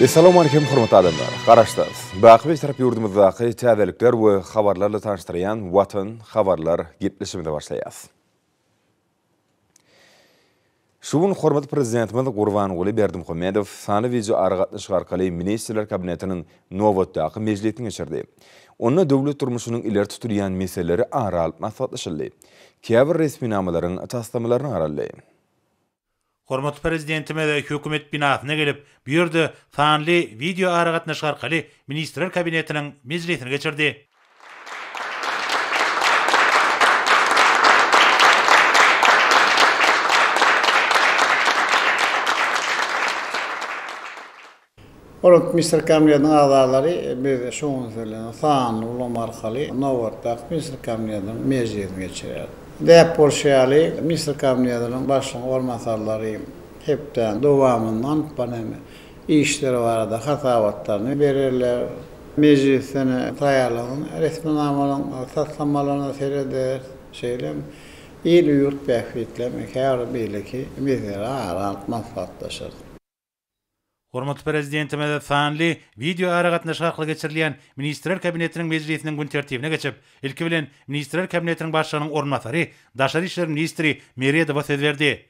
Essalawmalikim hormatly adamlar! Garaşsyz, baky Bitarap ýurdumyzdaky täzelikler we habarlarla tanyşdyrýan Watan habarlar gepleşigimize başlaýas. Şu gün hormatly Prezidentimiz Gurbanguly Berdimuhamedow sanly wideo aragatnaşyk arkaly Ministrler Kabinetiniň nobatdaky mejlisini geçirdi. Onda döwlet durmuşynyň ileri tutulýan meseleleri ara alyp maslahatlaşyldy. Käbir resminamalaryň taslamalaryna garaldy. Hormatly Prezidentimiz Hökümet binasyna gelip, bu ýerde sanly wideoaragatnaşyk arkaly Ministrler Kabinetiniň mejlisini geçirdi. Hormatly Ministrler Kabinetiniň agzalary, biz şu gün siz bilen sanly ulgam arkaly nobatdaky Ministrler Kabinetiniň mejlisini geçireris. Däp bolşy ýaly, Ministrler Kabinetiniň Başlygynyň orunbasarlary hepdäniň dowamynda alyp baran işleri barada hasabatlaryny bererler. Mejlisden taýýarlanan resminamalaryň taslamalaryna serederis, şeýle hem il-ýurt bähbitlerini, käbir beýleki meseleleri ara alyp maslahatlaşarys. Hormatly Prezidentimize sanly wideoaragatnaşyk arkaly geçirilýän Ministrler Kabinetiniň mejlisiniň gün tertibine geçip, ilki bilen, Ministrler Kabinetiniň Başlygynyň orunbasary, daşary işler ministri Meredowa söz berdi.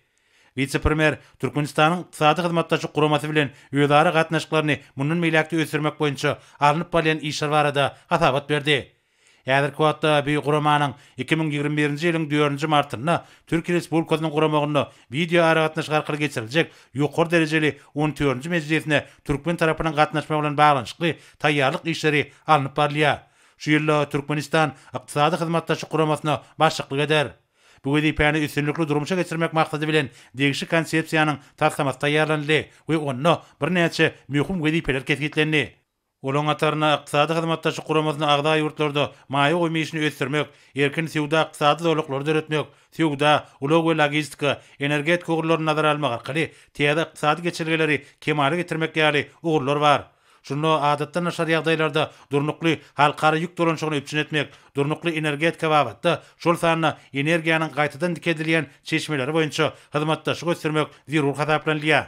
Wise-premýer Türkmenistanyň Ykdysady Hyzmatdaşlyk Guramasy bilen özara gatnaşyklaryny mundan beýläk-de ösdürmek boýunça alnyp barylýan işler barada hasabat berdi. Häzirki wagtda bu guramanyň iki müň ýigrimi birinji ýylyň dördünji martynda Türkiýe Respublikasynyň guramagynda wideoaragatnaşyk arkaly geçiriljek ýokary derejeli on dördünji mejlisine türkmen tarapynyň gatnaşmagy bilen baglanyşykly taýýarlyk işleri alnyp barylýar. Şu ýylda Türkmenistan Ykdysady Hyzmatdaşlyk Guramasyna başlyklyk eder. Bu wezipäni üstünlikli durmuşa geçirmek maksady bilen degişli Konsepsiýanyň taslamasy taýýarlanyldy we onda birnäçe möhüm wezipeler kesgitlendi. Olaryň hatarynda Ykdysady Hyzmatdaşlyk Guramasyna agza ýurtlarda maýa goýum işini ösdürmek, erkin söwda-ykdysady zolaklary döretmek, söwda, ulag we logistika, energetika ugurlaryny nazara almak arkaly täze ykdysady geçelgeleri kemala getirmek ýaly ugurlar bar. Şunda adatdan daşary ýagdaýlarda durnukly halkara ýük dolanyşygyny üpjün etmek, durnukly energetika babatda, şol sanda energiýanyň gaýtadan dikeldilýän çeşmeleri boýunça hyzmatdaşlygy ösdürmek zerur hasaplanylýar.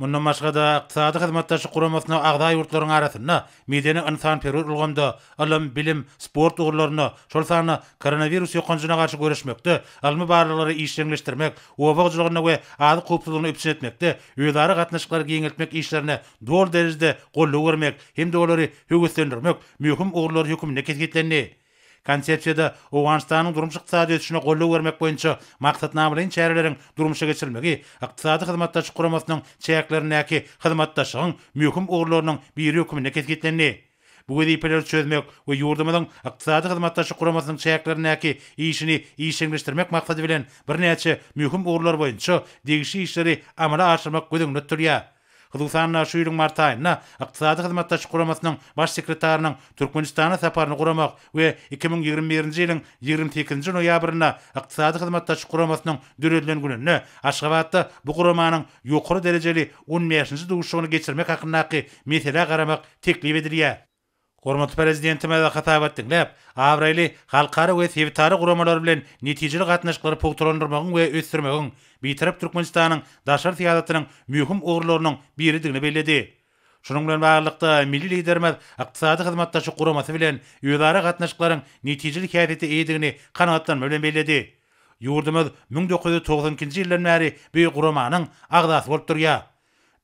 Mundan başga-da, Ykdysady Hyzmatdaşlyk Guramasyna agza ýurtlaryň arasynda medeni-ynsanperwer ulgamda, ylym, bilim, sport ugurlarynda, şol sanda koronawirus ýokanjyna garşy göreşmekde, ylmy barlaglary işjeňleşdirmek, oba hojalygyny we azyk howpsuzlygyny üpjün etmekde özara gatnaşyklary giňeltmek işlerine doly derejede goldaw bermek hem-de olary höweslendirmek möhüm ugurlar hökmünde kesgitlendi. Konsepsiýada Owganystanyň durmuş-ykdysady ösüşine goldaw bermek boýunça maksatnamalaýyn çäreleriň durmuşa geçirilmegi Ykdysady Hyzmatdaşlyk Guramasynyň çäklerindäki hyzmatdaşlygyň möhüm ugurlarynyň biri hökmünde kesgitlendi. Bu wezipeleri çözmek we ýurdumyzyň Ykdysady Hyzmatdaşlyk Guramasynyň çäklerindäki işini işjeňleşdirmek maksady bilen birnäçe möhüm ugurlar boýunça degişli işleri amala aşyrmak göz öňünde tutulýar. Hususan-da, şu ýylyň mart aýynda Ykdysady Hyzmatdaşlyk Guramasynyň Baş sekretarynyň Türkmenistana saparyny guramak we iki müň ýigrimi birinji ýylyň ýigrimi sekizinji noýabrynda Ykdysady Hyzmatdaşlyk Guramasynyň döredilen gününde Aşgabatda bu guramanyň ýokary derejeli on bäşinji duşuşygyny geçirmek hakyndaky meselä garamak teklip edilýär. Hormatly Prezidentimize hasabat diňläp, abraýly halkara we sebitara guramalar bilen netijeli gatnaşyklary pugtalandyrmagyň we ösdürmegiň Bitarap Türkmenistanyň daşary syýasatynyň möhüm ugurlarynyň biridigini belledi. Şunuň bilen baglylykda, milli Liderimiz Ykdysady Hyzmatdaşlyk Guramasy bilen özara gatnaşyklaryň netijeli häsiýete eýedigini kanagatlanma bilen belledi. Ýurdumyz müň dokuz ýüz togsan ikinji ýyldan bäri bu guramanyň agzasy bolup durýar.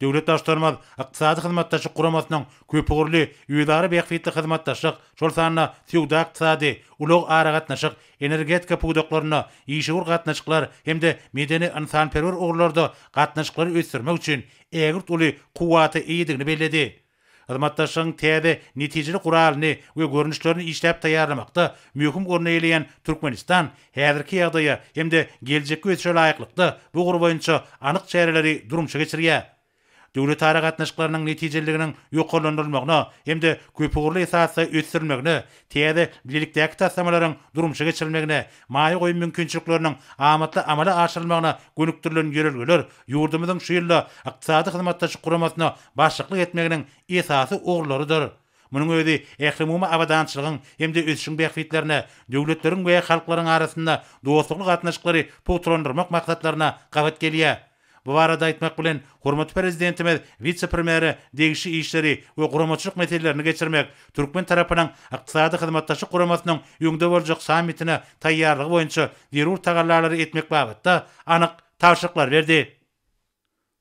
Döwlet Baştutanymyz Ykdysady Hyzmatdaşlyk Guramasynyň köpugurly özara bähbitli hyzmatdaşlyk, şol sanda söwda-ykdysady, ulag-aragatnaşyk, energetika pudaklarynda işewür gatnaşyklar hem-de medeni-ynsanperwer ugurlarda gatnaşyklary ösdürmek üçin ägirt uly kuwwata eýedigini belledi. Hyzmatdaşlygyň täze, netijeli guralyny we görnüşlerini işläp taýýarlamakda möhüm orny eýeleýän Türkmenistan häzirki ýagdaýa hem-de geljekki ösüşe laýyklykda bu ugur boýunça anyk çäreleri durmuşa geçirýär. Döwletara gatnaşyklarynyň netijeliliginiň ýokarlandyrylmagyna hem-de köpugurly esasda ösdürilmegine, täze bilelikdäki taslamalaryň durmuşa geçirilmegine Maýa goýum mümkinçilikleriniň amatly amala aşyrylmagyna gönükdirilen ýörelgeler ýurdumyzyň şu ýylda Ykdysady Hyzmatdaşlyk Guramasyna başlyklyk etmeginiň esasy ugurlarydyr. Munuň özi ählumumy abadançylygyň hem-de ösüşiň bähbitlerine, döwletleriň we halklaryň arasynda dostlukly gatnaşyklary pugtalandyrmak maksatlaryna gabat gelýär. Bu barada aýtmak bilen, hormatly Prezidentimiz wise-premýere degişli işleri we guramaçylyk meselelerini geçirmek, türkmen tarapynyň Ykdysady Hyzmatdaşlyk Guramasynyň öňde boljak sammitine taýýarlygy boýunça zerur tagallalary etmek babatda anyk tabşyryklary berdi.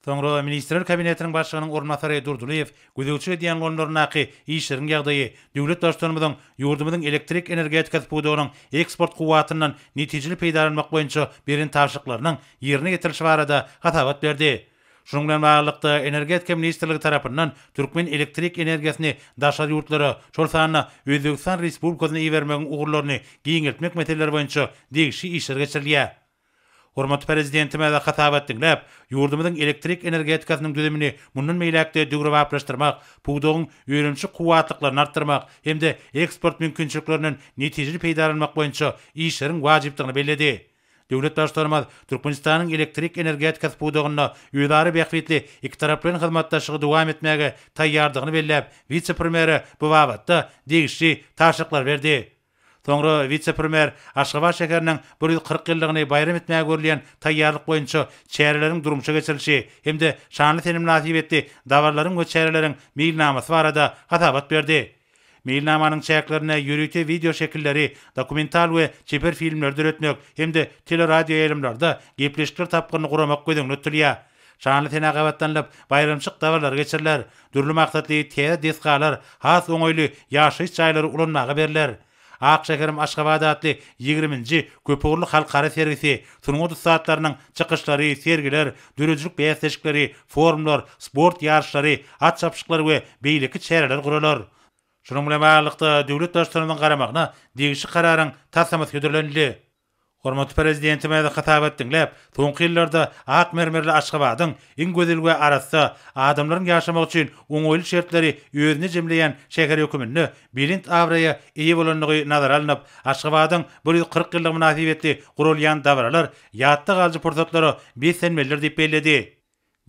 Soňra Ministrler Kabinetiniň Başlygynyň orunbasary Durdylyýew Gözegçilik edýän goňlaryndaky işleriň ýagdaýy döwlet Baştutanymyzyň ýurdumyzyň elektrik energetikasy pudagynyň eksport kuwwatyndan netijeli peýdalanmak boýunça beren tabşyryklarynyň ýerine ýetirilişi barada hasabat berdi. Şunuň bilen baglylykda, Energetika ministrligi tarapyndan türkmen elektrik energiýasyny daşary ýurtlara, şol sanda Özbegistan Respublikasyna ibermegiň ugurlaryny giňeltmek meseleleri boýunça degişli işler geçirilýär. Hormatly Prezidentimize hasabat diňläp, ýurdumyzyň elektrik energetikasynyň düzümini mundan beýläk-de döwrebaplaşdyrmak, pudagyň önümçi kuwwatlyklaryny artdyrmak hem-de eksport mümkinçiliklerinden netijeli peýdalanmak boýunça işleriň wajypdygyny belledi. Döwlet Baştutanymyz Türkmenistanyň elektrik energetikasy pudagynda özara bähbitli ikitaraplaýyn hyzmatdaşlygy dowam etmäge taýýardygyny belläp, wise-premýere bu babatda degişli tabşyryklary berdi. Soňra wise-premýer Aşgabat şäheriniň bir ýüz kyrk ýyllygyny baýram etmäge görülýän taýýarlyk boýunça çäreleriň durmuşa geçirilişi hem-de şanly sene mynasybetli dabaralaryň we çäreleriň meýilnamasy barada hasabat berdi. Meýilnamanyň çäklerinde ýörite wideo şekilleri, dokumental we çeper filmleri döretmek hem-de teleradioýaýlymlarda gepleşikler tapgyryny guramak göz öňünde tutulýar. Şanly sene gabatlanylyp, baýramçyk dabarlary geçiriler, dürli maksatly täze desgalar, has oňaýly ýaşaýyş jaýlary ulanmaga berler. Ak şäherim Aşgabat atly ýigriminji köpugurly halkara sergisi, sungat ussatlarynyň çykyşlary, sergiler, döredijilik bäsleşikleri, forumlar, sport ýaryşlary, at çapyşyklar we beýleki çäreler guralar. Şunuň bilen baglylykda, döwlet Baştutanymyzyň garamagyna degişli Kararyň taslamasy hödürlenildi. Hormatly Prezidentimiz hasabat diňläp, soňky ýyllarda ak mermerli Aşgabadyň iň gözel we arassa, adamlaryň ýaşamagy üçin oňaýly şertleri özünde jemleýän şäher höküminde belent abraýa eýe bolandygy nazara alnyp, Aşgabadyň bir ýüz kyrk ýyllygy mynasybetli guralýan dabaralar ýatda galyjy pursatlara beslenmelidir diýip belledi.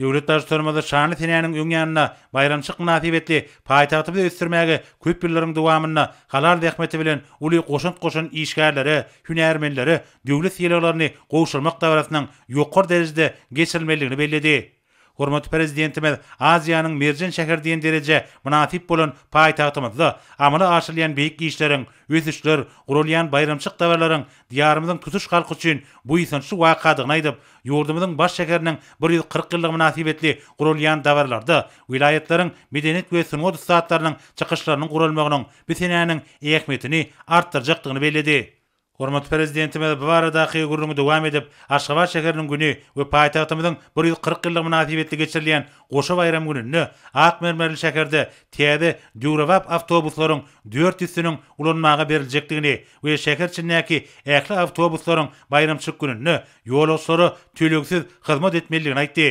Döwlet Baştutanymyz şanly senäniň öň ýanynda baýramçylyk mynasybetli paýtagtymyzy ösdürmäge köp ýyllaryň dowamynda halal zähmeti bilen uly goşant goşan işgärlere, hünärmenlere döwlet sylaglaryny gowşurmak dabarasynyň ýokary derejede geçirilmelidigini belledi. Hormatly Prezidentimiz Aziýanyň merjen şäheri diýen derejä mynasyp bolan paýtagtymyzda amala aşyrylýan beýik işleriň, ösüşler, guralýan baýramçylyk dabaralaryň Diýarymyzyň tutuş halky üçin buýsançly wakadygyny aýdyp, ýurdumyzyň baş şäheriniň bir ýüz kyrk ýyllygy mynasybetli guralýan dabaralarda welaýatlaryň medeniýet we sungat ussatlarynyň çykyşlarynyň guralmagynyň bu senäniň ähmiýetini artdyrjakdygyny belledi. Hormatly Prezidentimiz bu baradaky gürrüňi dowam edip, Aşgabat şäheriniň güni we paýtagtymyzyň bir ýüz kyrk ýyllygy mynasybetli geçirilýän goşa baýram gününde ak mermerli şäherde täze döwrebap awtobuslaryň dört ýüzsiniň ulanmaga beriljekdigini we şäher içindäki ähli awtobuslaryň baýramçylyk gününde ýolagçylara tölegsiz hyzmat etmelidigini aýtdy.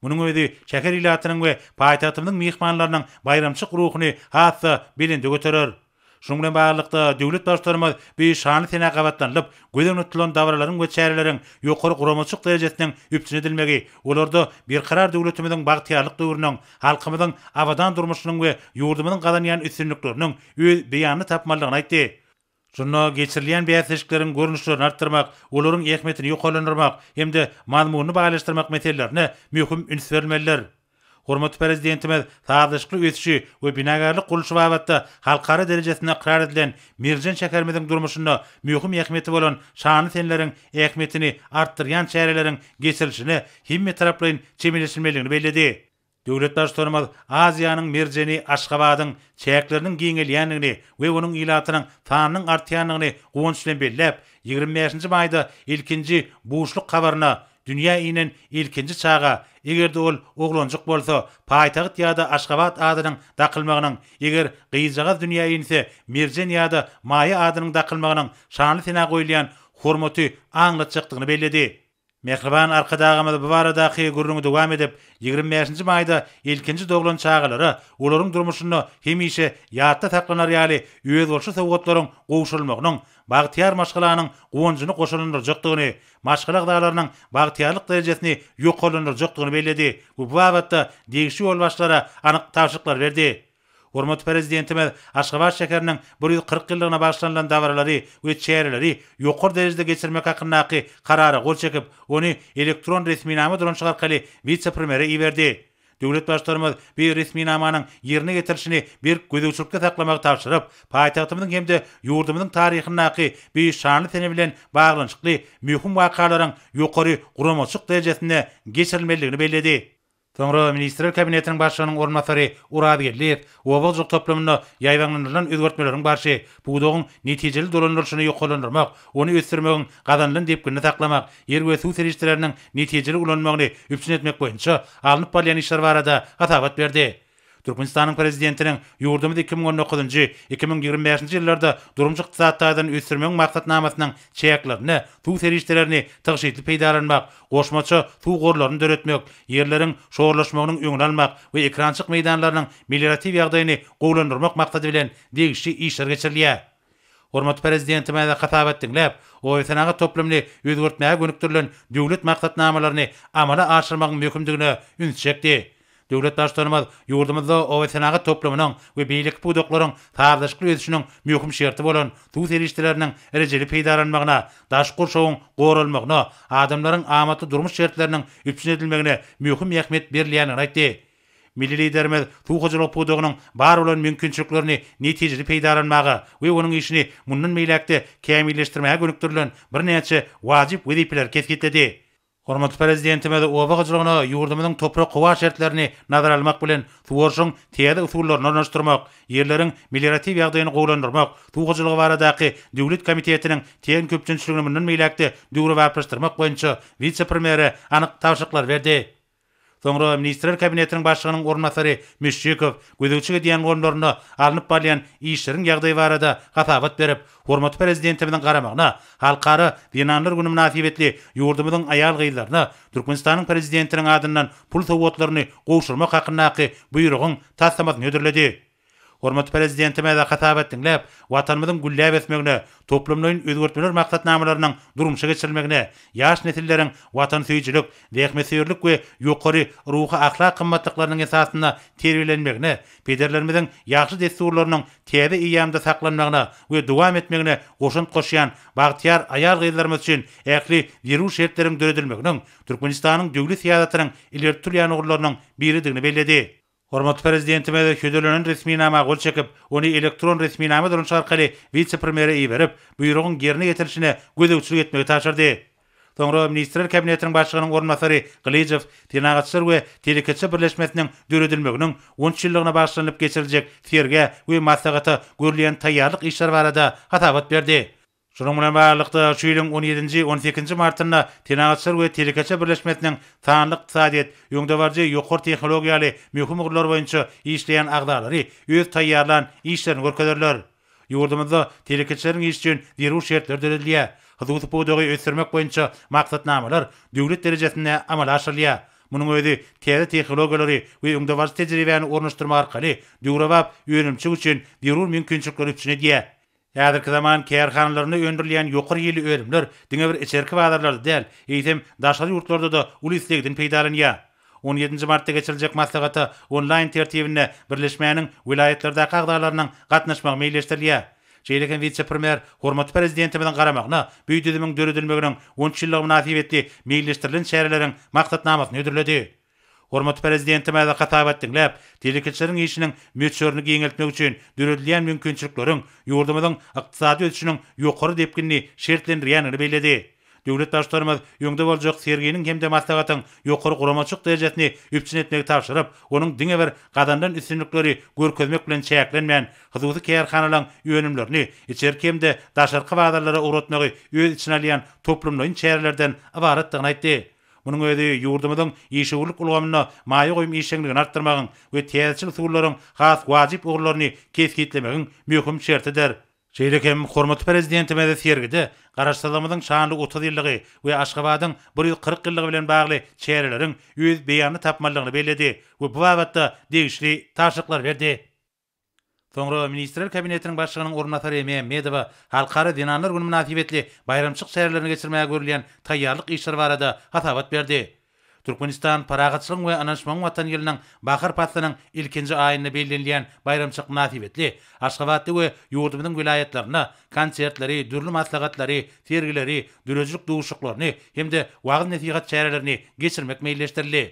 Munuň özi şäher ilatynyň we paýtagtymyzyň myhmanlarynyň baýramçylyk ruhuny has-da belende göterer. Şunuň bilen baglylykda, döwlet Baştutanymyz bu şanly senä gabatlanylyp, göz öňünde tutulan dabaralaryň we çäreleriň ýokary guramaçylyk derejesiniň üpjün edilmegi, olarda Berkarar döwletimiziň bagtyýarlyk döwrüniň, halkymyzyň abadan durmuşynyň we ýurdumyzyň gazanýan üstünlikleriniň öz beýanyny tapmalydygyny aýtdy. Şunda geçirilýän bäsleşikleriň görnüşlerini artdyrmak, olaryň ähmiýetini ýokarlandyrmak hem-de mazmunyny baýlaşdyrmak meselelerine möhüm üns berilmelidir. Hormatly Prezidentimiz sazlaşykly ösüşi we binagärlik gurluşy babatda halkara derejesinde ykrar edilen merjen şäherimiziň durmuşynda möhüm ähmiýeti bolan şanly seneleriň ähmiýetini artdyrýan çäreleriň geçirilişine hemmetaraplaýyn çemeleşilmelidigini belledi. Döwlet Baştutanymyz Aziýanyň merjeni Aşgabadyň çäkleriniň giňelýändigini we onuň ilatynyň sanynyň artýandygyny guwanç bilen belläp, ýigrimi bäşinji maýda ilkinji buşluk habaryna Dünýä inen ilkinji çaga, eger-de ol oglanjyk bolsa, paýtagt ýa-da Aşgabat adynyň dakylmagynyň, eger gyzjagaz dünýä inse, Merjen ýa-da Maýa adynyň dakylmagynyň şanly senä goýulýan hormaty aňlatjakdygyny belledi. Mähriban Arkadagymyz bu baradaky gürrüňi dowam edip, ýigrimi bäşinji maýda ilkinji doglan çagalara olaryň durmuşynda hemişe ýatda saklanar ýaly özboluşly sowgatlaryň gowşurylmagynyň bagtyýar maşgalanyň guwanjyny goşalandyrjakdygyny, maşgala agzalarynyň bagtyýarlyk derejesini ýokarlandyrjakdygyny belledi we bu babatda degişli ýolbaşçylara anyk tabşyryklary berdi. Hormatly Prezidentimiz Aşgabat şäheriniň bir ýüz kyrk ýyllygyna bagyşlanylan dabaralary we çäreleri ýokary derejede geçirmek hakyndaky Karara gol çekip, ony elektron resminama dolanyşyk arkaly wise-premýere iberdi. Döwlet Baştutanymyz bu resminamanyň ýerine ýetirilişini berk gözegçilikde saklamagy tabşyryp, paýtagtymyzyň hem-de ýurdumyzyň taryhyndaky bu şanly sene bilen baglanyşykly möhüm wakalaryň ýokary guramaçylyk derejesinde geçirilmelidigini belledi. Soňra Ministrler Kabinetiniň Başlygynyň orunbasary Oraz Geldiýew oba hojalyk toplumynda ýaýbaňlandyrylan özgertmeleriň barşy, pudagyň netijeli dolandyrylyşyny ýokarlandyrmak, ony ösdürmegiň gazanylan depginini saklamak, ýer we suw serişdeleriniň netijeli ulanylmagyny üpjün etmek boýunça alnyp barylýan işler barada hasabat berdi. Türkmenistanyň Prezidentiniň ýurdumyzy iki müň on dokuzynjy, iki müň ýigrimi bäşinji ýyllarda durmuş-ykdysady taýdan ösdürmegiň Maksatnamasynyň çäklerinde suw serişdelerini tygşytly peýdalanmak, goşmaça suw gorlaryny döretmek, ýerleriň şorlaşmagynyň öňüni almak we ekrançyk meýdanlarynyň melioratiw ýagdaýyny gowulandyrmak maksady bilen degişli işler geçirilýär. Hormatly Prezidentimize hasabat diňläp, obasenagat toplumyny özgertmäge gönükdirilen döwlet maksatnamalaryny amala aşyrmagyň möhümdigine üns çekdi. Döwlet Baştutanymyz ýurdumyzda obasenagat toplumynyň we beýleki pudaklaryň sazlaşykly ösüşiniň möhüm şerti bolan suw serişdeleriniň rejeli peýdalanmagyna, daşky gurşawyň goralmagyna, adamlaryň amatly durmuş şertleriniň üpjün edilmegine möhüm ähmiýet berilýändigini aýtdy. Milli Liderimiz suw hojalyk pudagynyň bar bolan mümkinçiliklerini netijeli peýdalanmaga we onuň işini mundan beýläk-de kämilleşdirmäge gönükdirilen birnäçe wajyp wezipeleri kesgitledi. Hormatly Prezidentimiz oba hojalygyna ýurdumyzyň toprak-howa şertlerini nazara almak bilen, suwaryşyň täze usullaryny ornaşdyrmak, ýerleriň melioratiw ýagdaýyny gowulandyrmak, suw hojalygy baradaky döwlet komitetiniň TM köpçünçiligini mundan beýläk-de döwrebaplaşdyrmak boýunça wise-premýere anyk tabşyryklary berdi. Soňra Ministrler Kabinetiniň Başlygynyň orunbasary Müşşikow gözegçilik edýän goňlarynda alnyp barylýan işleriň ýagdaýy barada hasabat berip, hormatly Prezidentimiziň garamagyna Halkara zenanlar güni mynasybetli ýurdumyzyň aýal-gyzlaryna Türkmenistanyň Prezidentiniň adyndan pul sowgatlaryny gowşurmak hakyndaky Buýrugyň taslamasyny hödürledi. Hormatly Prezidentimiz hasabat diňläp, Watanymyzyň gülläp ösmegine, toplumlaýyn özgertmeler maksatnamalarynyň durmuşa geçirilmegine, ýaş nesilleriň watansöýüjilik, zähmetsöýerlik we ýokary ruhy-ahlak gymmatlyklarynyň esasynda terbiýelenmegine, pederlerimiziň ýagşy dessurlarynyň täze eýýamda saklanmagyna we dowam etmegine goşant goşýan bagtyýar aýal-gyzlarymyz üçin ähli zerur şertleriň döredilmeginiň Türkmenistanyň döwlet syýasatynyň ileri tutulýan ugurlarynyň biridigini belledi. Hormatly Prezidentimiz şödelenen resminama gol çekip, ony elektron resminama duranyşy arkaly wise-premýere iberip, buýrugyň ýerine ýetirilişine gözegçilik etmegi tabşyrdy. Soňra Ministrler Kabinetiniň Başlygynyň orunbasary Gylyjow Senagatçylar we telekeçiler birleşmesiniň döredilmeginiň on üç ýyllygyna bagyşlanylyp geçiriljek sergä we maslahata görülýän taýýarlyk işleri barada hasabat berdi. Şunuň bilen baglylykda, şu ýylyň on ýedinji, on sekizinji martynda Senagatçylar we telekeçiler birleşmesiniň sanly ykdysadyýet, öňdebaryjy ýokary tehnologiýa ýaly möhüm ugurlar boýunça işleýän agzalary öz taýýarlan işlerini görkezerler. Ýurdumyzda telekeçileriň işi üçin zerur şertler döredilýär, hususy pudagy ösdürmek boýunça maksatnamalar döwlet derejesinde amala aşyrylýar. Munuň özi täze tehnologiýalary we öňdebaryjy tejribäni ornaşdyrmak arkaly döwrebap önümçilik üçin zerur mümkinçilikleri üpjün edýär. Häzirki zaman kärhanalarynda öndürilýän ýokary hilli önümler diňe bir içerki bazarlarda däl, eýsem, daşary ýurtlarda-da uly islegden peýdalanýar. On ýedinji martda geçiriljek maslahata onlaýn tertibinde birleşmäniň welaýatlardaky agzalarynyň gatnaşmagy meýilleşdirilýär. Şeýle hem wise-premýer hormatly Prezidentimiziň garamagyna bu düzümiň döredilmeginiň on üç ýyllygy mynasybetli meýilleşdirilen çäreleriň maksatnamasyny hödürledi. Hormatly Prezidentimize hasabat diňläp, telekeçileriň işiniň möçberini giňeltmek üçin döredilýän mümkinçilikleriň ýurdumyzyň ykdysady ösüşiniň ýokary depginini şertlendirýändigini belledi. Döwlet Baştutanymyz öňde boljak serginiň hem-de maslahatyň ýokary guramaçylyk derejesini üpjün etmegi tabşyryp, onuň diňe bir gazanylan üstünlikleri görkezmek bilen çäklenmän, hususy kärhanalaryň önümlerini içerki hem-de daşarky bazarlara ugratmagy öz içine alýan toplumlaýyn çärelerden ybaratdygyny aýtdy. Munuň özi ýurdumyzyň işewürlik ulgamynda maýa goýum işjeňligini artdyrmagyň we täzeçil usullaryň has wajyp ugurlaryny kesgitlemegiň möhüm şertidir. Şeýle hem hormatly Prezidentimiz sergide Garaşsyzlygymyzyň şanly otuz ýyllygy we Aşgabadyň bir ýüz kyrk ýyllygy bilen bagly çäreleriň öz beýanyny tapmalydygyny belledi we bu babatda degişli tabşyryklar berdi. Soňra Ministrler Kabinetiniň Başlygynyň orunbasary Mämmedowa Halkara zenanlar güni mynasybetli baýramçylyk çärelerini geçirmäge görülýän taýýarlyk işleri barada hasabat berdi. Türkmenistan parahatçylygyň we ynanyşmagyň Watany ýylynyň bahar paslynyň ilkinji aýynda bellenilýän baýramçylyk mynasybetli Aşgabatda we ýurdumyzyň welaýatlarynda konsertleri, dürli maslahatlary, sergileri, döredijilik duşuşyklaryny hem-de wagyz-nesihat çärelerini geçirmek meýilleşdirildi.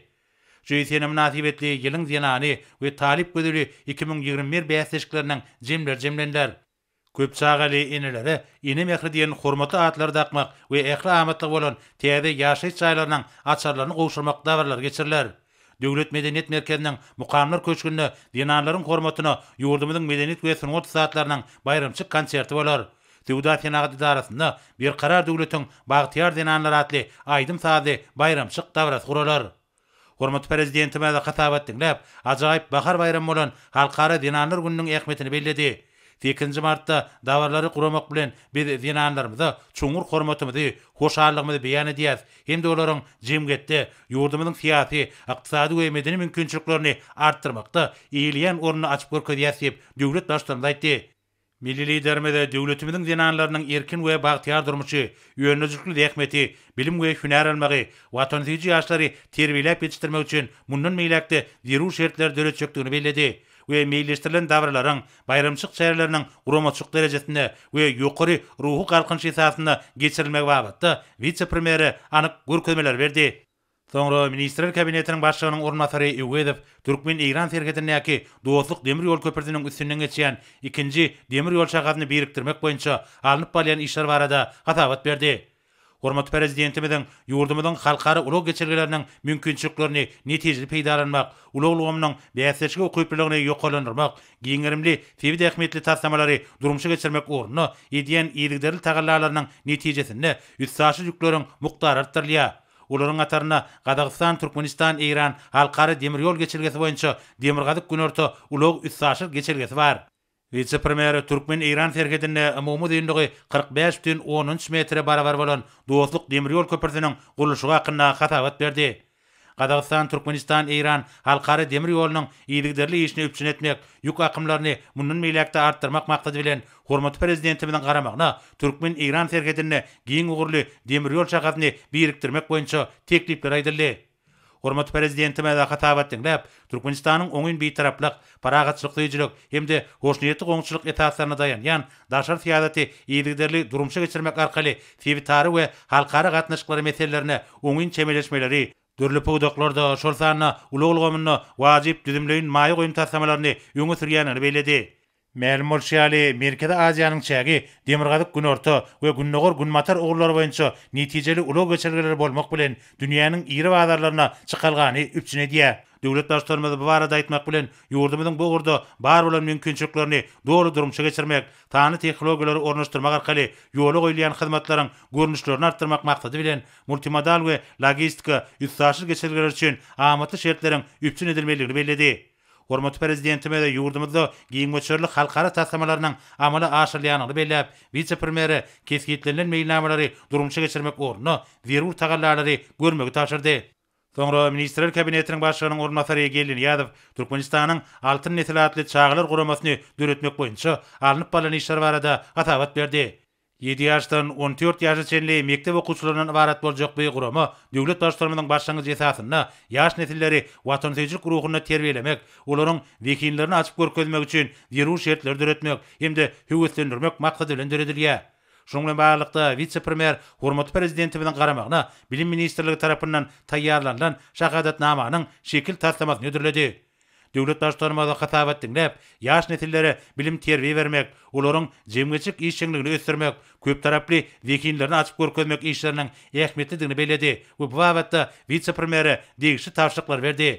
JSN-e mynasybetli Ýylyň zenany we Talyp gözeli iki müň ýigrimi bir bäsleşikleriniň jemleri jemleniler. Köp çagaly enelere Ene mähri diýen hormatly atlary dakmak we ähli amatlygy bolan täze ýaşaýyş jaýlarynyň açarlaryny gowşurmak dabaralary geçiriler. Döwlet medeniýet merkeziniň Mukamlar köşgünde zenanlaryň hormatyna ýurdumyzyň medeniýet we sungat ussatlarynyň baýramçyk konserti bolar. Söwda-senagat edarasynda Berkarar döwletiň bagtyýar zenanlary atly aýdym-sazly baýramçyk dabarasy guralar. Hormatly Prezidentimiz hasabat diňläp, ajaýyp bahar baýramy bolan Halkara zenanlar gününiň ähmiýetini belledi. Sekizinji martda dabaralary guramak bilen, biz zenanlarymyza çuňňur hormatymyzy, hoşallygymyzy beýan edýäris hem-de olaryň jemgyýetde, ýurdumyzyň syýasy, ykdysady we medeni mümkinçiliklerini artdyrmakda eýeleýän ornuny açyp görkezýäris diýip, döwlet Baştutanymyz aýtdy. Milli Liderimiz döwletimiziň zenanlarynyň erkin we bagtyýar durmuşy, önüjükli zähmeti, bilim we hünär almagy, watansöýüji ýaşlary terbiýeläp ýetişdirmek üçin mundan beýläk-de zerur şertleri döretjekdigini belledi we meýilleşdirilen dabaralaryň, baýramçylyk çäreleriniň guramaçylyk derejesinde we ýokary ruhy galkynyş esasynda geçirilmegi babatda wise-premýere anyk görkezmeleri berdi. Soňra Ministrler Kabinetiniň Başlygynyň orunbasary Öwezow türkmen-eýran serhedindäki Dostluk demir ýol köprüsiniň üstünden geçýän ikinji demir ýol şahasyny birikdirmek boýunça alnyp barylýan işler barada hasabat berdi. Hormatly Prezidentimiziň ýurdumyzyň halkara ulag geçelgeleriniň mümkinçiliklerini netijeli peýdalanmak, ulag ulgamynyň bäsdeşlige ukyplylygyny ýokarlandyrmak, giň gerimli sebit ähmiýetli taslamalary durmuşa geçirmek ugrunda edýän yzygiderli tagallalarynyň netijesinde üstaşyr ýükleriň mukdary artdyrylýar. Olaryň hatarynda Gazagystan, Türkmenistan, Eýran, Halkara demir ýol geçelgesi boýunça Demirgazyk-Günorta ulag-üstaşyr geçelgesi bar. Wise-premýer türkmen-eýran serhedinde umumy uzynlygy kyrk bäş bütin on üç metre barabar bolan Dostluk demir ýol köprüsiniň gurluşygy hakynda hasabat berdi. Gazagystan, Türkmenistan, Eýran halkara demir ýolunyň yzygiderli işini üpjün etmek, ýük akymlaryny mundan beýläk-de artdyrmak maksady bilen, Hormatly Prezidentimiziň garamagyna türkmen-eýran serhedinde giň ugurly demir ýol çagasyny birikdirmek boýunça teklipler aýdyldy. Hormatly Prezidentimize hatabat diňläp, Türkmenistanyň oňyn Bitaraplyk, parahatçylyksöýüjilik hem-de hoşniýetli goňşuçylyk esaslaryna daýanýan daşary syýasaty yzygiderli durmuşa geçirmek arkaly sebitara we halkara gatnaşyklary meselelerine oňyn çemeleşmeleri, dürli pudaklarda, şol sanda ulag ulgamynda wajyp düzümleýin maýa goýum taslamalaryny öňe sürýändigini belledi. Mälim bolşy ýaly, Merkezi Aziýanyň çägi Demirgazyk-Günorta we Gündogar-Günbatar ugurlary boýunça netijeli ulag geçelgeleri bolmak bilen, dünýäniň iri bazarlaryna çykalgany üpjün edýär. Döwlet Baştutanymyz bu barada aýtmak bilen, ýurdumyzyň bu ugurda bar bolan mümkinçiliklerini doly durmuşa geçirmek, sanly tehnologiýalary ornaşdyrmak arkaly ýola goýulýan hyzmatlaryň görnüşlerini artdyrmak maksady bilen multimodal we logistika, üstaşyr geçelgeler üçin amatly şertleriň üpjün edilmelidigini belledi. Hormatly Prezidentimiz ýurdumyzda giň möçberli halkara taslamalarynyň amala aşyrylýandygyny belläp, wise-premýere kesgitlenilen meýilnamalary durmuşa geçirmek ugrunda zerur tagallalary görmegi tabşyrdy. Soňra Ministrler Kabinetiniň Başlygynyň orunbasary Geldi Nyýazow Türkmenistanyň Altyn nesil atly çagalar guramasyny döretmek boýunça alnyp barlan işler barada hasabat berdi. Ýedi ýaşdan on dört ýaşa çenli mekdep okuwçylaryndan ybarat boljak bu gurama döwlet Baştutanymyzyň başlangyjy esasynda ýaş nesilleri watansöýüjilik ruhunda terbiýelemek, olaryň zehinlerini açyp görkezmek üçin zerur şertleri döretmek hem-de höweslendirmek maksady bilen döredilýär. Şunuň bilen baglylykda, wise-premýer hormatly Prezidentimiziň garamagyna Bilim ministrligi tarapyndan taýýarlanylan şahadatnamanyň şekil taslamasyny hödürledi. Döwlet Baştutanymyza hasabat diňläp, ýaş nesillere bilim-terbiýe bermek, olaryň jemgyýetçilik işjeňligini ösdürmek, köptaraply zehinlerini açyp görkezmek işleriniň ähmiýetlidigini belledi we bu babatda wise-premýere degişli tabşyryklary berdi.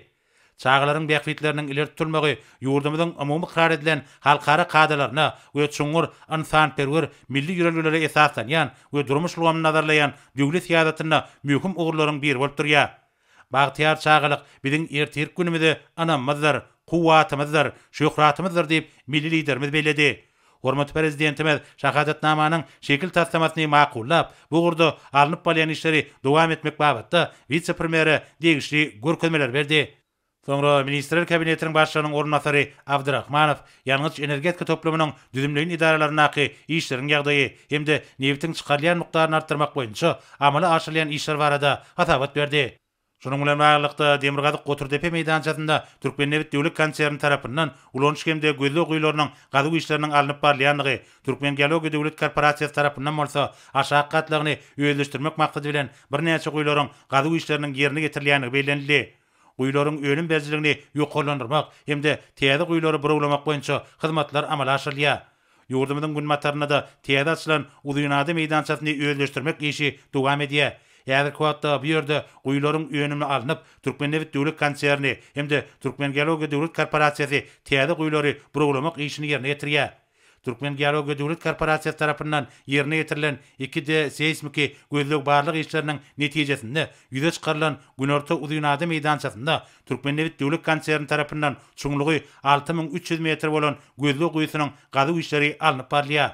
Çagalaryň bähbitleriniň ileri tutulmagy ýurdumyzyň umumy ykrar edilen halkara kadalaryna we çuňňur ynsanperwer milli ýörelgelere esaslanýan we durmuş ulgamyny nazarlaýan döwlet syýasatynda möhüm ugurlaryň biri bolup durýar. Bagtyýar çagalyk biziň ertirki günümize ynamymyzdyr, kuwwatymyzdyr, şöhratymyzdyr diýip, milli Liderimiz belledi. Hormatly Prezidentimiz Şahadatnamanyň şekil taslamasyny makullap, bu ugurda alnyp barylýan işleri dowam etmek babatda wise-premýere degişli görkezmeler berdi. Soňra Ministrler Kabinetiniň Başlygynyň orunbasary Abdrahmanow ýangyç-energetika toplumynyň düzümleýin edaralaryndaky işleriň ýagdaýy hem-de nebitiň çykarylýan mukdaryny artdyrmak boýunça amala aşyrylýan işler barada hasabat berdi. Şunuň bilen baglylykda, Demirgazyk Goturdepe meýdançasynda Türkmennebit döwlet konserni tarapyndan ulanyş hem-de gözleg guýularynyň gazuw işleriniň alnyp barylýandygy, Türkmengeologiýa döwlet korporasiýasy tarapyndan bolsa aşak gatlagyny özleşdirmek maksady bilen birnäçe guýularyň gazuw işleriniň ýerine ýetirilýändigi bellenildi. Guýularyň önüm berijiligini ýokarlandyrmak hem-de täze guýulary burawlamak boýunça hyzmatlar amala aşyrylýar. Ýurdumyzyň günbatarynda-da täze açylan Uzynada meýdançasyny özleşdirmek işi dowam edýär. Häzirki wagtda bu ýerde guýularyň önümi alnyp, Türkmennebit döwlet konserni hem-de Türkmengeologiýa döwlet korporasiýasy täze guýulary burawlamak işini ýerine ýetirýär. Türkmengeologiýa döwlet korporasiýasy tarapyndan ýerine ýetirilen iki D seýsmiki gözleg-barlag işleriniň netijesinde ýüze çykarylan Günorta uzynada meýdançasynda Türkmennebit döwlet konserni tarapyndan çuňlugy alty müň üç ýüz metr bolan gözleg guýusynyň gazuw işleri alnyp barylýar.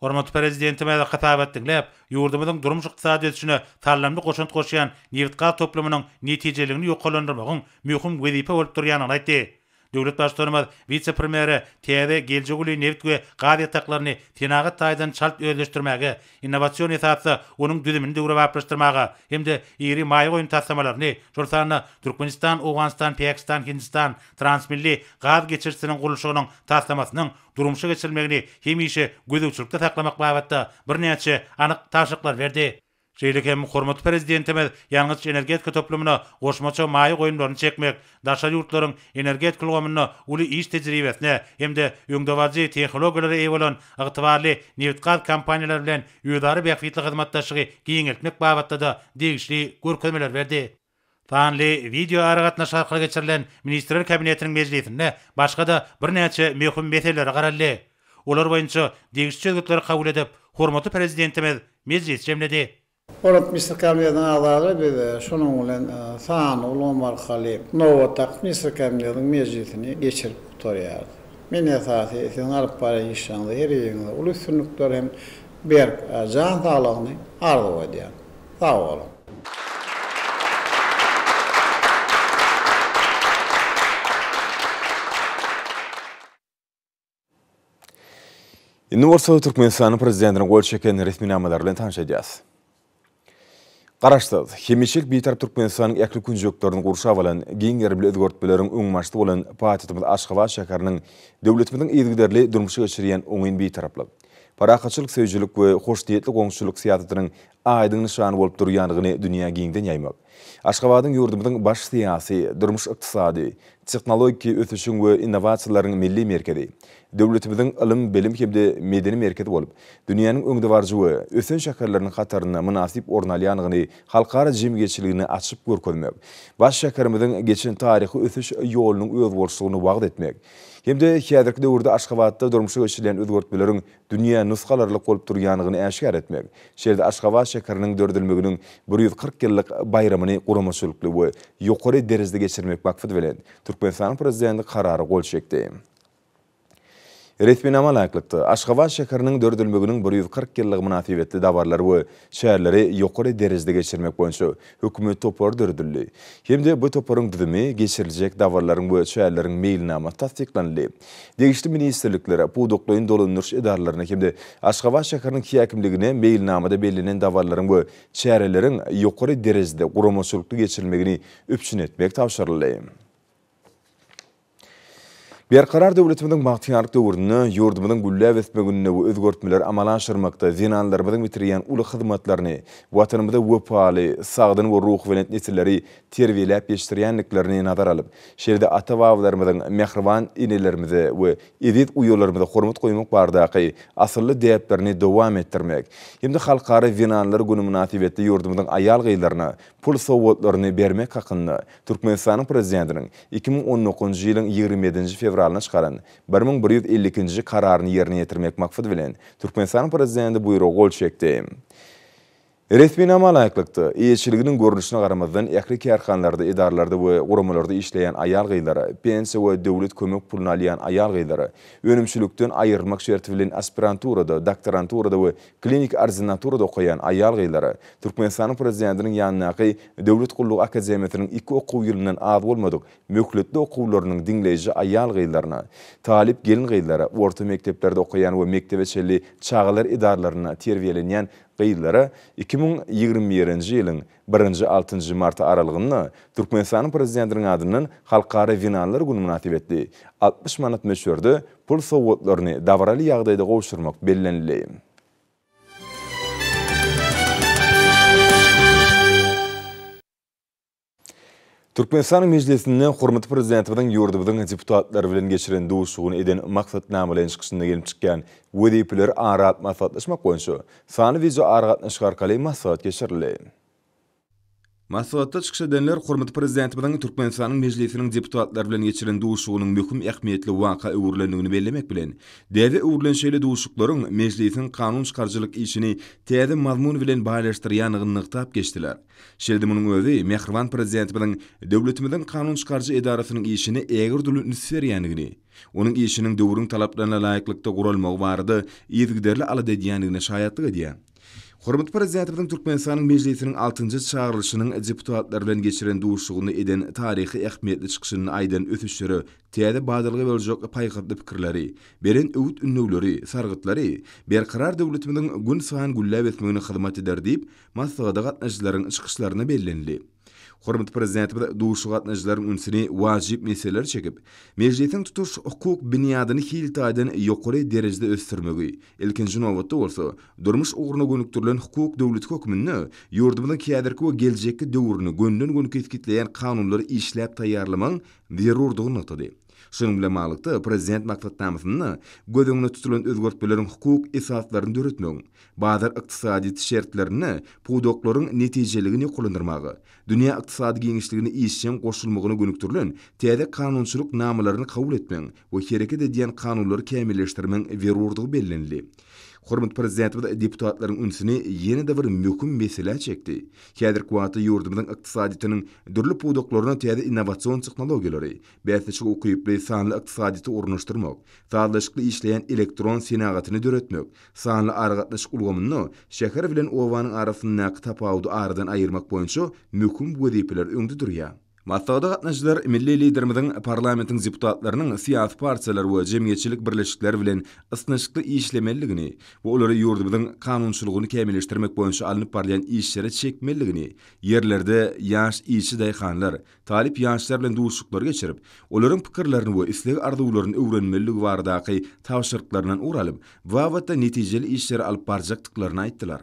Hormatly Prezidentimiz hasabat diňläp, ýurdumyzyň durmuş-ykdysady ösüşine salymly goşant goşýan nebitgaz toplumynyň netijeliligini ýokarlandyrmagyň möhüm wezipe bolup durýandygyny aýtdy. Döwlet Baştutanymyz wise-premýere täze geljek uly nebit we gaz ýataklaryny senagat taýdan çalt özleşdirmäge, innowasion esasda onuň düzümini döwrebaplaşdyrmaga hem-de iri maýa goýum taslamalaryny, şol sanda Türkmenistan, Owganystan, Pakistan, Hindistan transmilli gaz geçirijisiniň gurluşygynyň taslamasynyň durmuşa geçirilmegini hemişe gözegçilikde saklamak babatda birnäçe anyk tabşyryklar berdi. Şeýle hem hormatly Prezidentimiz ýangyç-energetika toplumyna goşmaça maýa goýumlaryny çekmek, daşary ýurtlaryň energetika ulgamynda uly iş tejribesine hem-de öňdebaryjy tehnologiýalara eýe bolan ygtybarly nebitgaz kompaniýalary bilen özara bähbitli hyzmatdaşlygy giňeltmek babatda-da degişli görkezmeler berdi. Sanly wideoaragatnaşyk arkaly geçirilen Ministrler Kabinetiniň mejlisinde başga-da birnäçe möhüm meselelere garaldy. Olar boýunça degişli çözgütleri kabul edip, hormatly Prezidentimiz mejlisi jemledi. Hormatly Ministrler Kabinetiniň agzalary, biz şunuň bilen sanly ulgam arkaly nobatdaky Ministrler Kabinetiniň mejlisini geçirip gutarýarys. Men esasy siziň alyp barýan işleriňizde her biriňize uly üstünlikler hem Berk jan saglygyny arzuw edýän. Sag boluň. Indi bolsa Türkmenistanyň prezidentiniň gol çeken resminamalar bilen tanyş edýäs. Garaşsyz, hemişelik Bitarap Türkmenistanyň ähli künjeklerini gurşap alan giň gerimli özgertmeleriň öňbaşçysy bolan paýtagtymyz Aşgabat şäheriniň döwletimiziň yzygiderli durmuşa geçirýän oňyn bitaraplyk, parahatçylyk söýüjilik we hoşniýetli goňşuçylyk syýasatynyň aýdyň nyşany bolup durýandygyny dünýä giňden ýaýmak. Aşgabadyň ýurdumyzyň baş syýasy, durmuş-ykdysady, tehnologik ösüşiň we innowasiýalaryň milli merkezi, döwletimiziň ylym-bilim hem-de medeni merkezi bolup, dünýäniň öňdebaryjy we ösen şäherleriniň hatarynda mynasyp orun alýandygyny halkara jemgyýetçiligine açyp görkezmek, baş şäherimiziň geçen taryhy ösüş ýolunyň özboluşlygyny wagyz etmek hem-de häzirki döwürde Aşgabatda durmuşa geçirilýän özgertmeleriň dünýä nusga alarlyk bolup durýandygyny äşgär etmek, şeýle-de Aşgabat şäheriniň döredilmeginiň bir ýüz kyrk ýyllyk baýramyny guramaçylykly we ýokary derejede geçirmek maksady bilen, Türkmenistanyň Prezidenti Karara gol çekdi. Resminama laýyklykda, Aşgabat şäheriniň döredilmeginiň bir ýüz kyrk ýyllygy mynasybetli dabaralar we çäreleri ýokary derejede geçirmek boýunça Hökümet topary döredildi hem-de bu toparyň düzümi, geçiriljek dabaralaryň we çäreleriň meýilnamasy tassyklanyldy. Degişli ministrliklere, pudaklaýyn dolandyryş edaralaryna hem-de Aşgabat şäheriniň häkimligine meýilnamada bellenen dabaralaryň we çäreleriň ýokary derejede guramaçylykly geçirilmegini üpjün etmek tabşyryldy. Berkarar döwletimiziň bagtyýarlyk döwründe, ýurdumyzyň gülläp ösmeginde we özgertmeleri amala aşyrmakda zenanlarymyzyň bitirýän uly hyzmatlaryny, Watanymyza wepaly, sagdyn we ruhubelent nesilleri terbiýeläp ýetişdirýändiklerini nazara alyp, şeýle-de ata-babalarymyzyň mähriban enelerimize we eziz uýalarymyza hormat goýmak baradaky asylly däplerini dowam etdirmek hem-de Halkara zenanlar güni mynasybetli ýurdumyzyň aýal-gyzlaryna pul sowgatlaryny bermek hakynda Türkmenistanyň Prezidentiniň iki müň on dokuzynjy ýylyň ýigrimi ýedinji fewralynda çykaran bir müň bir ýüz elli ikinji Kararyny ýerine ýetirmek maksady bilen, Türkmenistanyň Prezidenti buýruga gol çekdi. Resminama laýyklykda, eýeçiliginiň görnüşine garamazdan, ähli kärhanalarda, edaralarda we guramalarda işleýän aýal-gyzlara, pensiýa we döwlet kömek puluny alýan aýal-gyzlara, önümçilikden aýrylmak şerti bilen aspiranturada, doktoranturada we Kliniki ordinaturada okaýan aýal-gyzlara Türkmenistanyň Prezidentiniň ýanyndaky Döwlet gullugy akademiýasynyň iki okuw ýylyndan az bolmadyk möhletli okuwlarynyň diňleýji aýal-gyzlaryna, talyp gelin-gyzlara, orta mekdeplerde okaýan we mekdebe çenli çagalar edaralarynda terbiýelenýän gyzlara iki müň ýigrimi birinji ýylyň Birinji, altynjy mart aralygynda Türkmenistanyň Prezidentiniň adyndan Halkara zenanlar güni mynasybetli altmyş manat möçberde pul sowgatlaryny dabaraly ýagdaýda gowşurmak bellenildi. Türkmenistanyň Mejlisinde hormatly Prezidentimiziň ýurdumyzyň deputatlary bilen geçiren duşuşygyny eden maksatnamalaýyn çykyşynda gelip çykýan wezipeleri ara alyp maslahatlaşmak boýunça sanly wideoaragatnaşyk arkaly maslahat geçirildi. Maslahatda çykyş edenler hormatly Prezidentimiziň Türkmenistanyň Mejlisiniň deputatlary bilen geçiren duşuşygynyň möhüm ähmiýetli waka öwrülendigini bellemek bilen, däbe öwrülen şeýle duşuşyklaryň Mejlisiň kanun çykaryjylyk işini täze mazmun bilen baýlaşdyrýandygyny nygtap geçdiler. Şeýle-de munuň özi mähriban Prezidentimiziň döwletimiziň kanun çykaryjy edarasynyň işine ägirdürli üns berýändigini, onuň işiniň döwrüň talaplaryna laýyklykda guralmagy barada yzygiderli alada edýändigine şaýatlyk edýär. Hormatly Prezidentimiziň Türkmenistanyň Mejlisiniň altynjy çagyrylyşynyň deputatlary bilen geçiren duşuşygynda eden taryhy ähmiýetli çykyşynda aýdan ösüşlere täze badalga boljak paýhasly pikirleri, beren öwüt-ündewleri, sargytlary Berkarar döwletimiziň günsaýyn gülläp ösmegine hyzmat eder diýip, Maslahata gatnaşyjylaryň çykyşlarynda bellenildi. Hormatly Prezidentimiz duşuşyga gatnaşyjylaryň ünsüni wajyp meselelere çekip, Mejlisiň tutuş hukuk binýadyny hil taýdan ýokary derejede ösdürmegi, ilkinji nobatda bolsa, durmuş ugruna gönükdirilen hukuk döwleti hökmünde ýurdumyzyň häzirki we geljekki döwrüni gönüden-göni kesgitleýän kanunlary işläp taýýarlamagyň zerurdygyny nygtady. Şunuň bilen baglylykda, Prezident maksatnamasynda göz öňünde tutulan özgertmeleriň hukuk esaslaryny döretmegiň, Bazar ykdysadyýeti şertlerinde pudaklaryň netijeligini ýokarlandyrmaga, dünýä ykdysady giňişligine işjeň goşulmagyna gönükdirilen täze kanunçylyk namalaryny kabul etmegiň we hereket edýän kanunlary kämilleşdirmegiň zerurdygy bellenildi. Hormatly Prezidentimiz deputatlaryň ünsüni ýene-de bir möhüm meselä çekdi, häzirki wagtda ýurdumyzyň ykdysadyýetiniň dürli pudaklaryna täze innowasion tehnologiýalary, bäsleşige ukyply sanly ykdysadyýeti ornaşdyrmak, sazlaşykly işleýän elektron senagatyny döretmek, Sanly aragatnaşyk ulgamynda şäher bilen obanyň arasyndaky tapawudy aradan aýyrmak boýunça möhüm wezipeler öňde durýar. Maslahata gatnaşyjylar milli Liderimiziň parlamentiň deputatlarynyň syýasy partiýalar we jemgyýetçilik birleşikleri bilen ysnyşykly işlemeliligini we olary ýurdumyzyň kanunçylygyny kämilleşdirmek boýunça alnyp barylýan işlere çekmeliligini, ýerlerde ýaş işçi daýhanlar, Talyp ýaşlar bilen duşuşyklar geçirip, olaryň pikirlerini we isleg-arzuwlaryny öwrenmelidigi baradaky tabşyryklaryndan ugur alyp, babatda netijeli işleri alyp barjakdyklaryny aýtdylar.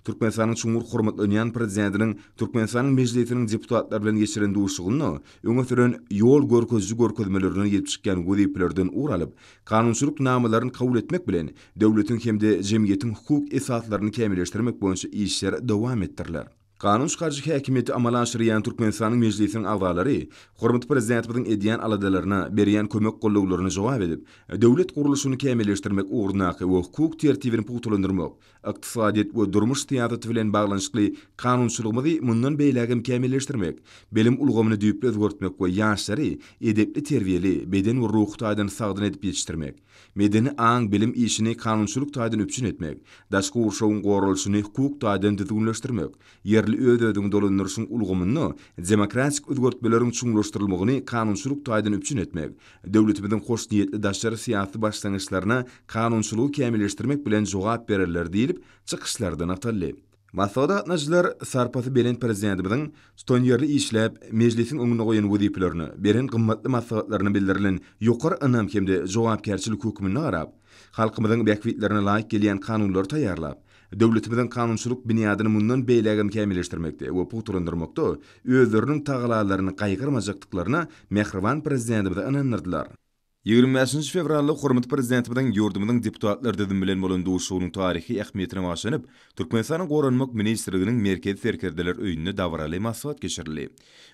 Türkmenistanyň çuňňur hormatlanýan Prezidentiniň Türkmenistanyň Mejlisiniň deputatlary bilen geçiren duşuşygynda öňe süren ýol görkeziji görkezmelerinden gelip çykýan wezipelerden ugur alyp, kanunçylyk namalaryny kabul etmek bilen, döwletiň hem-de jemgyýetiň hukuk esaslaryny kämilleşdirmek boýunça işler dowam etdiriler. Kanun çykaryjy häkimiýeti amala aşyrýan Türkmenistanyň Mejlisiniň agzalary hormatly Prezidentimiziň edýän aladalaryna, berýän kömek-gollawlaryna jogap edip, döwlet gurluşyny kämilleşdirmek ugrundaky we hukuk tertibini pugtalandyrmak, ykdysadyýet we durmuş syýasaty bilen baglanyşykly kanunçylygymyzy mundan beýläk hem kämilleşdirmek, bilim ulgamyny düýpli özgertmek we ýaşlary edepli-terbiýeli, beden we ruhy taýdan sagdyn edip ýetişdirmek, medeni aň-bilim işini kanunçylyk taýdan üpjün etmek, daşky gurşawyň goralyşyny hukuk taýdan düzgünleşdirmek, ýerli öz-özüňi dolandyryşyň ulgamynda demokratik özgertmeleriň çuňlaşdyrylmagyny kanunçylyk taýdan üpjün etmek, döwletimiziň hoşniýetli daşary syýasy başlangyçlaryna kanunçylygy kämilleşdirmek bilen jogap bererler diýlip, çykyşlarda nygtaldy. Maslahata gatnaşyjylar sarpasy belent Prezidentimiziň tutanýerli işläp, Mejlisiň öňünde goýan wezipelerini, beren gymmatly maslahatlaryna bildirilen ýokary ynam hem-de jogapkärçilik hökmünde garap, halkymyzyň bähbitlerine laýyk gelýän kanunlary taýýarlap, döwletimiziň kanunçylyk binýadyny mundan beýlägem kämilleşdirmekde we pugtalandyrmakda özleriniň tagalalaryny gaýgyrmajakdyklaryna mähriban Prezidentimizi ynandyrdylar. Ýigrimi bäşinji fewralda hormatly Prezidentimiziň ýurdumyzyň deputatlar düzümi bilen bolan duşuşygynyň taryhy ähmiýetine baglanyp, Türkmenistanyň Goranmak ministrliginiň Merkezi serkerdeler öýünde dabaraly maslahat geçirildi.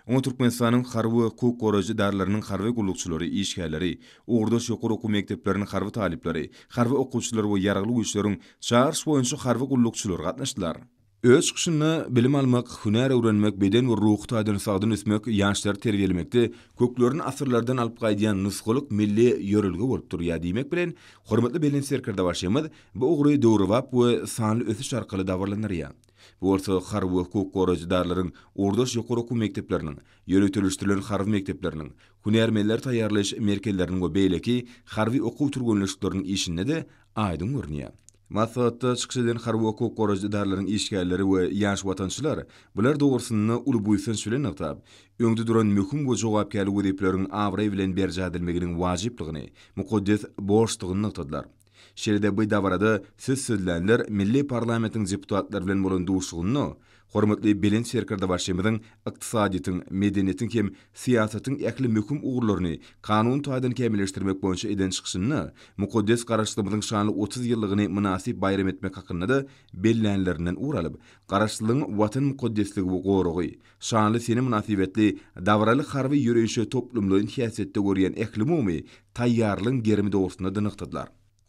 Oňa Türkmenistanyň harby we hukuk goraýjy edaralarynyň harby gullukçylary, işgärleri, ugurdaş ýokary okuw mekdepleriniň harby talyplary, harby okuwçylary we Ýaragly Güýçleriň Çagyryş boýunça harby gullukçylary gatnaşdylar. Öz çykyşynda Bilim almak, hünär öwrenmek beden we ruhy taýdan sagdyn ösmek, ýaşlary terbiýelemekde köklerini asyrlardan alyp gaýdýan nusgalyk milli ýörelge bolup durýar diýmek bilen, hormatly Belent Serkerdebaşymyz bu ugry döwrebap we sanly ösüş arkaly dabaralandyrýar. Bu bolsa harby we hukuk goraýjydarlaryň, ugurdaş ýokary okuw mekdepleriniň, ýöriteleşdirilen harby mekdepleriniň, hünärmenleri taýýarlaýyş merkezleriniň we beýleki harby okuw türgenleşikleriniň işinde-de aýdyň görünýär. Maslahatda çykyş eden harby hukuk goraýjy edaralaryň işgärleri we ýaş watançylar bular dogrusynda uly buýsanç bilen nygtap, öňde duran möhüm we jogapkärli wezipeleriň abraý bilen berjaý edilmeginiň wajyplygyny, mukaddes borçdygyny nygtadylar. Şeýle-de bu dabarada söz sözlänler milli parlamentiň deputatlary bilen bolan duşuşygynda Hormatly Belent Serkerdebaşymyzyň ykdysadyýetiň, medeniýetiň hem syýasatyň ähli möhüm ugurlaryny kanun taýdan kämilleşdirmek boýunça eden çykyşynda mukaddes Garaşsyzlygymyzyň şanly otuz ýyllygyny mynasyp baýram etmek hakynda-da bellänlerinden ugur alyp, Garaşsyzlygyň Watan mukaddesligi we goragy, şanly sene mynasybetli dabaraly harby ýöreýşe toplumlaýyn häsiýetde görýän ählumumy taýýarlygyň gerimi dogrusynda-da nygtadylar.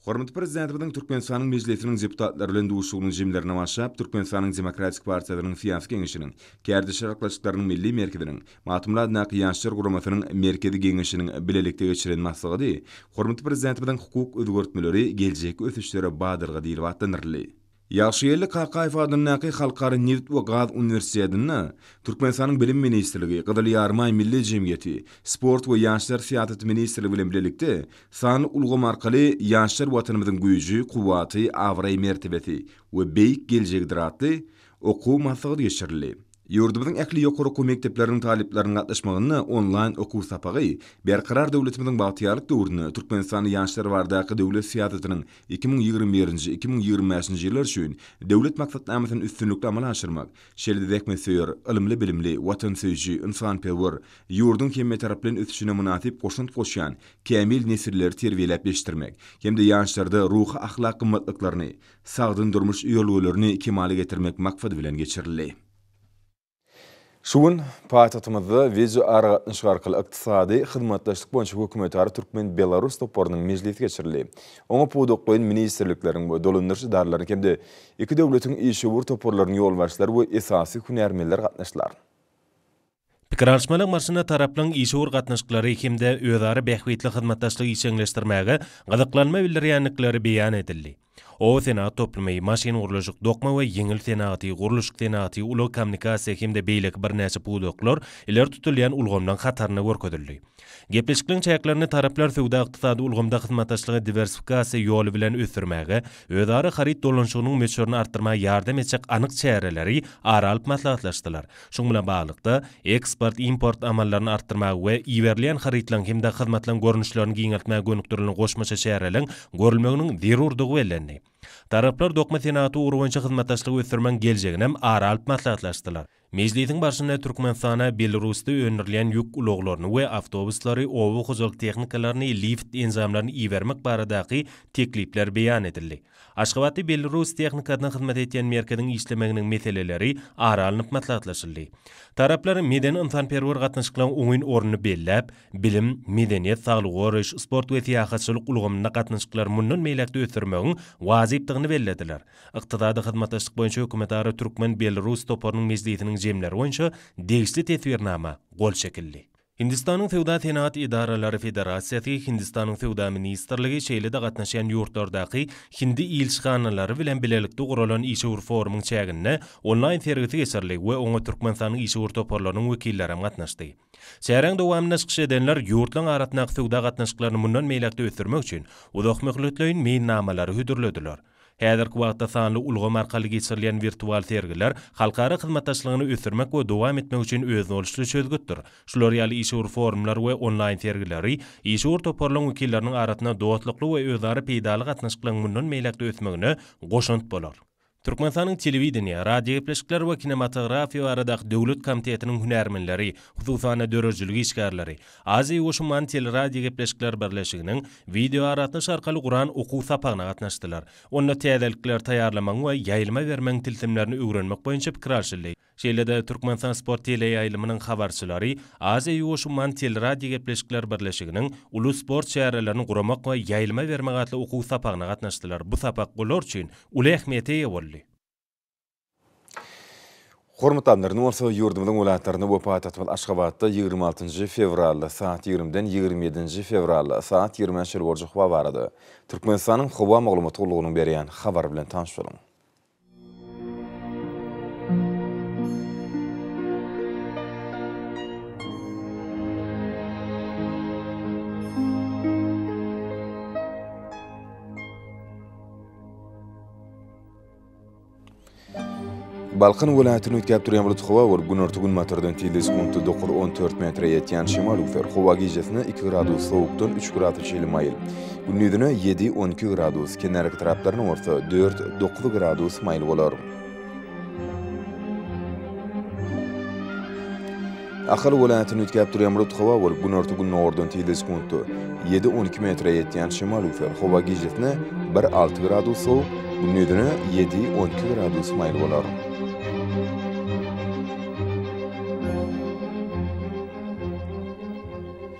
Hormatly Prezidentimiziň Türkmenistanyň Mejlisiniň deputatlary bilen duşuşygynyň jemlerine başlap, Türkmenistanyň Demokratik partiýasynyň Syýasy Geňeşiniň, Kärdeş arkalaşyklarynyň Milli merkeziniň, Magtymguly adyndaky Ýaşlar guramasynyň Merkezi Geňeşiniň bilelikde geçiren maslahady hormatly Prezidentimiziň Hukuk özgertmeleri, geljekki ösüşlere badalga diýlip atlandyryldy. Ýagşygeldi Kakaýew adyndaky Halkara nebit we gaz uniwersitetinde Türkmenistanyň Bilim ministrligi, Gyzyl Ýarymaý Milli jemgyýeti, Sport we ýaşlar syýasaty ministrligi bilen bilelikde sanly ulgam arkaly Ýaşlar Watanymyzyň güýji, kuwwaty, abraý-mertebesi we beýik geljegidir atly okuw maslahaty geçirildi. Ýurdumyzyň ähli ýokary okuw mekdepleriniň talyplarynyň gatnaşmagynda onlaýn okuw sapagy Berkarar döwletimiziň bagtyýarlyk döwründe Türkmenistanda ýaşlar baradaky döwlet syýasatynyň iki müň ýigrimi birinji, iki müň ýigrimi bäşinji ýyllar üçin Döwlet maksatnamasyny üstünlikli amala aşyrmak, şeýle-de zähmetsöýer, ylymly-bilimli, watansöýüji, ynsanperwer, ýurduň hemmetaraplaýyn ösüşine mynasyp goşant goşýan kämil nesilleri terbiýeläp ýetişdirmek hem-de ýaşlarda ruhy-ahlak gymmatlyklaryny, sagdyn durmuş ýörelgelerini kemala getirmek maksady bilen geçirildi. Şu gün paýtagtymyzda wideoaragatnaşyk arkaly Ykdysady hyzmatdaşlyk boýunça hökümetara türkmen-belarus toparynyň mejlisi geçirildi. Oňa pudaklaýyn ministrlikleriň we dolandyryş edaralarynyň hem-de iki döwletiň işewür toparlarynyň ýolbaşçylary we esasy hünärmenler gatnaşdylar. Pikir alyşmalar marsynda taraplaryň işewür gatnaşyklary hem-de özara bähbitli hyzmatdaşlygy işjeňleşdirmäge gyzyklanma bildirýändikleri beýan edildi. Oba senagat toplumy, maşyngurluşyk, dokma we ýeňil senagaty, gurluşyk senagaty, ulag-kommunikasiýa hem-de beýleki birnäçe pudaklar ileri tutulýan ulgamlaryň hatarynda görkezildi. Gepleşikligiň çäklerinde taraplar söwda-ykdysady ulgamda hyzmatdaşlygy diwersifikasiýa ýoly bilen ösdürmäge, özara haryt dolanyşygynyň möçberini artdyrmaga ýardam etjek anyk çäreleri ara alyp maslahatlaşdylar. Şunuň bilen baglylykda, eksport-import amallaryny artdyrmaga we iberilýän harytlaryň hem-de hyzmatlaryň görnüşlerini giňeltmäge gönükdirilen goşmaça çäreleriň görülmeginiň zerurdygy bellendi. Taraplar dokma senagaty ugry boýunça hyzmatdaşlygy ösdürmegiň geljeginem ara alyp maslahatlaşdylar. Mejlisiň barşynda Türkmenistana Belarusda öndürilýän ýük ulaglaryny we awtobuslary, oba hojalyk tehnikalaryny, lift enjamlaryny ibermek baradaky teklipler beýan edildi. Aşgabatda belarus tehnikasyna hyzmat edýän merkeziň işlemeginiň meseleleri ara alnyp maslahatlaşyldy. Taraplar medeni-ynsanperwer gatnaşyklaryň oňyn ornuny belläp, bilim, medeniýet, saglygy goraýyş, sport we syýahatçylyk ulgamynda gatnaşyklary mundan beýläk-de ösdürmegiň wajypdygyny bellediler. Ykdysady hyzmatdaşlyk boýunça hökümetara türkmen-belarus toparynyň mejlisiniň jemleri boýunça degişli teswirnama gol çekildi. Hindistanyň Söwda-senagat edaralary federasiýasy, Hindistanyň Söwda ministrligi, şeýle-de gatnaşýan ýurtlardaky hindi ilçihanalary bilen bilelikde guralan işewür forumyň çäginde onlaýn sergisi geçirildi we oňa Türkmenistanyň işewür toparlarynyň wekilleri hem gatnaşdy. Çäräň dowamynda çykyş edenler ýurtlaryň arasyndaky söwda gatnaşyklaryny mundan beýläk-de ösdürmek üçin uzakmöhletleýin meýilnamalary hödürlediler. Häzirki wagtda sanly ulgam arkaly geçirilýän wirtual sergiler halkara hyzmatdaşlygyny ösdürmek we dowam etmek üçin özboluşly çözgütdir. Şular ýaly işewür forumlar we onlaýn sergileri işewür toparlaryň wekilleriniň arasynda dostlukly we özara peýdaly gatnaşyklaryň mundan beýläk-de ösmegine goşant bolar. Türkmenistanyň Telewideniýe, radiogepleşikler we kinematografiýa baradaky döwlet komitetiniň hünärmenleri, hususan-da döredijilik işgärleri, Aziýa Goşunmany teleradiogepleşikler birleşiginiň wideoaragatnaşyk arkaly guran okuw sapagyna gatnaşdylar. Onda täzelikleri taýýarlamagyň we ýaýlyma bermegiň tilsimlerini öwrenmek boýunça pikir alşyldy. Şeýle-de Türkmenistan sport teleýaýlymynyň habarçylary Aziýa Goşunmany teleradiogepleşikler birleşiginiň Uly sport çärelerini guramak we ýaýlyma bermek atly okuw sapagyna gatnaşdylar, bu sapak olar üçin uly ähmiýete eýe boldy. Hormatly alymlar, indi bolsa ýurdumyzyň welaýatlarynda we paýtagtymyz Aşgabatda ýigrimi altynjy fewralda saat ýigrimiden ýigrimi ýedinji fewral saat ýigrimä çenli boljak howa barada Türkmenistanyň howa maglumat gullugynyň berýän habary bilen tanyş boluň. Balkan welaýatyny üýtgäp durýan bulut howa we günorta-günbatardan tizligi sekuntda dokuz, on dört metre ýetýän şemal üwser. Howa gijesine iki gradus sowukdan üç gradus çenli maýyl. Gündizine ýedi, on iki gradus, kenarki taraplaryna bolsa dört, dokuz gradus maýyl bolar. Ahal welaýatyny üýtgäp durýan bulut howa bolup, günorta-gündogardan tizde sekuntda ýedi, on iki metre ýetýän şemal üýser. Howa gijesine bir, alty gradus sowuk, gündizine ýedi, on iki gradus maýyl bolar.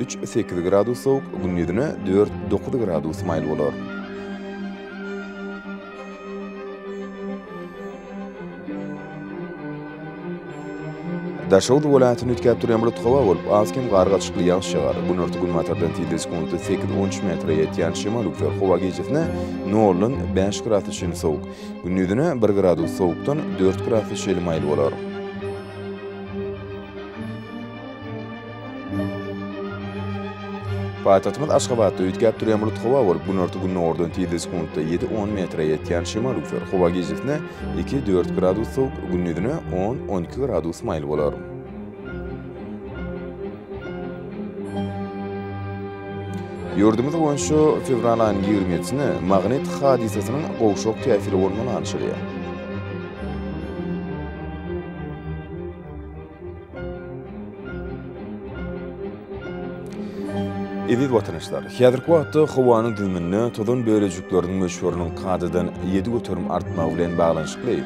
Üç, sekiz gradus sowuk, gündizine dört, dokuz gradus maýyl bolar. Daşoguz welaýatyny üýtgäp durýan bulut howa bolup, az-kem gar gaçykly ýagyş ýagar. Günorta-günbatardan tilde sekundy sekiz on üç metre ýetýän şemal üwser. Howa gijesi noldan bäş gradus çenli sowuk. Gündizine bir gradus sowukdan dört gradus çenli maýyl bolar. Paýtagtymyz Aşgabatda üýtgäp durýan bulut howa bolup, günorta-gündogardan tizligi sekuntda ýedi-on metre ýetýän şemal üfler. Howa gijesine iki-dört gradus sowuk, gündizine on-on iki gradus maýyl bolar. Ýurdumyz boýunça fewral aýynyň ýigrimi ýedisine magnit hadysasynyň gowşak täsiri bolman garaşylýar. Eziz watanyşlar, häzirki wagtda howanyň düzüminde tozan bölejikleriniň möçberiniň kadadan ýedi göterim artmagy bilen baglanyşykly,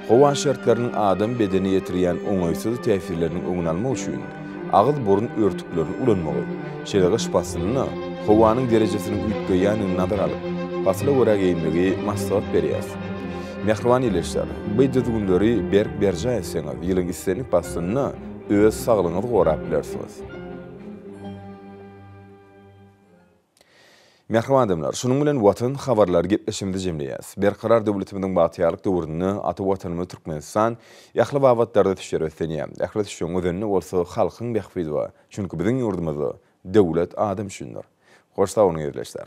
howa şertleriniň adam bedenine ýetirýän oňaýsyz täsirleriniň öňüni almak üçin agyz-burun örtüklerini ulanmagy, şeýle gyş paslynda howanyň derejesiniň üýtgeýändigini nazara alyp, pasla görä geýinmegi maslahat berýäris. Mähriban ildeşler, bu düzgünleri berk berjaý etseňiz, ýylyň islendik paslynda öz saglygyňyzy gorap bilersiňiz. Mähriban adamlar, şunuň bilen Watan habarlary gepleşigimizi jemleýäs. Berkarar döwletimiziň bagtyýarlyk döwründe ata Watanymyz Türkmenistan ähli babatlarda düşer ösdünýär. Ähli düşegiň özeninde bolsa halkyň bähbidi bar. Çünki biziň ýurdumyzda döwlet adam üçindir. Hoş sag boluň ildeşler.